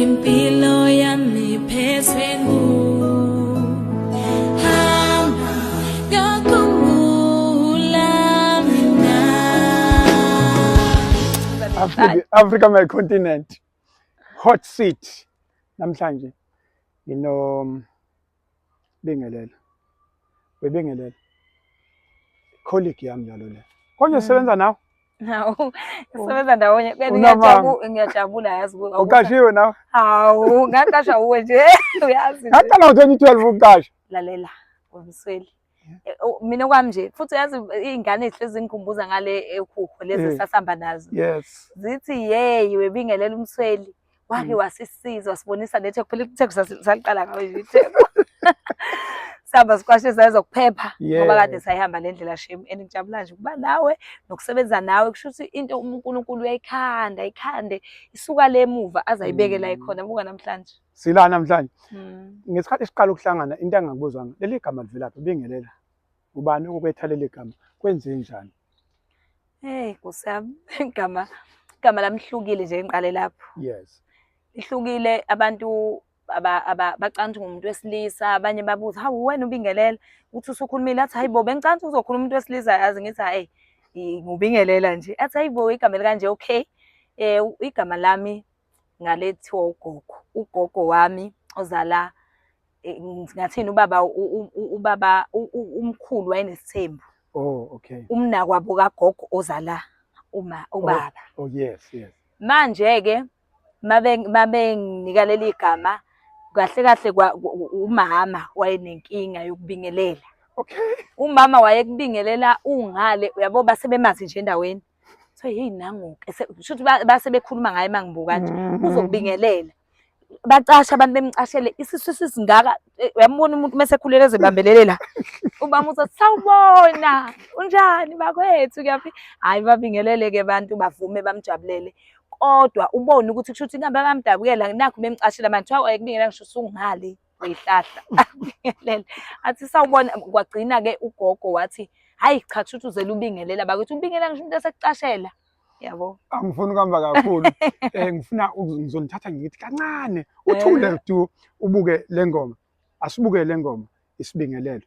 impilo yami phezwe ngu hamba ngakhumbula mina Africa, Africa my continent hot seat namhlanje ngino Bingelela. Bebingelela. Colleague yami njalo le. Konje mm. sebenza nawe? Hawu, oh. sebenza ndawonye. Ngiyajabula, ngiyajabula yazi. Uqashiwe nawe? Hawu, ngaqasha uwe nje, uyazi. Ngaqala ngo-2012 ukuqasha. Lalela, Wamsweli. Eh, oh, mina okwami nje futhi yazi iy'ngane ezihlezi zingikhumbuza ngale ehuho lezi eh, esasihamba nazo zithi yeyi webingelela umsweli wake mm. wasisiza wasibonisa nethe kuphela itheko saliqala ngayo nje itheko sihamba sikwashe sayezo kuphepha ngoba kade sayihamba le ndlela shame and ngijabula nje ukuba nawe nokusebenza nawe kusho ukuthi into uNkulunkulu uyayikhanda ikhande isuka le muva azayibeke la mm. ikhona buka namhlanje Sila namhlanje. Hmm. Ngesikhathi siqala ukuhlangana into engakubuzanga leli gama livelaphi bingelela. Ubani okubetha leli gama kwenze njani? Hey kusami igama igama lamhlukile nje ngiqale lapho. Yes. Ihlukile abantu abacanthi ngumuntu wesilisa abanye babuza hawu wena ubingelela uthi usukhulumile athi hayibo bengicanthi uzokhuluma umuntu wesilisa yazi ngithi hayi ngubingelela nje athi hayibo igama elikanje okay eh igama lami ngale kuthiwa ugogo ugogo wami ozala eh, ngathini ubaba ubaba umkhulu wayenesithembu oh okay umnakwabo kagogo ozala uma oh, ubaba oh yes yes manje ke mabe mabe nginika leli gama kahle kahle umama wayenenkinga yokubingelela okay umama wayekubingelela ungale uyabo basebemazi nje endaweni so hey nangoke shuthi base bekhuluma ngaye mangibuka nje mm-hmm. uzokubingelela bacasha abantu bemcashele isisu sisingaka eh, uyambona umuntu mase khulele ezibambelele la ubama uthi sawubona unjani bakwethu kuyaphi hayi babingelele ke abantu bavume bamjabulele kodwa ubone ukuthi kushuthi inkampani bamdabukela nakho bemcashela manje kuthiwa ayekubingelela ngisho usungale uyihlahla akubingelele athi sawubona kwagcina ke ugogo wathi hayi cha kushuthi uzele ubingelela bakithi ubingela ngisho umuntu esekucashela yabo angifuni ukuhamba kakhulu um ngifuna ngizonithatha ngithi kancane uthule eh. du ubuke le ngoma asibuke le ngoma isibingelelo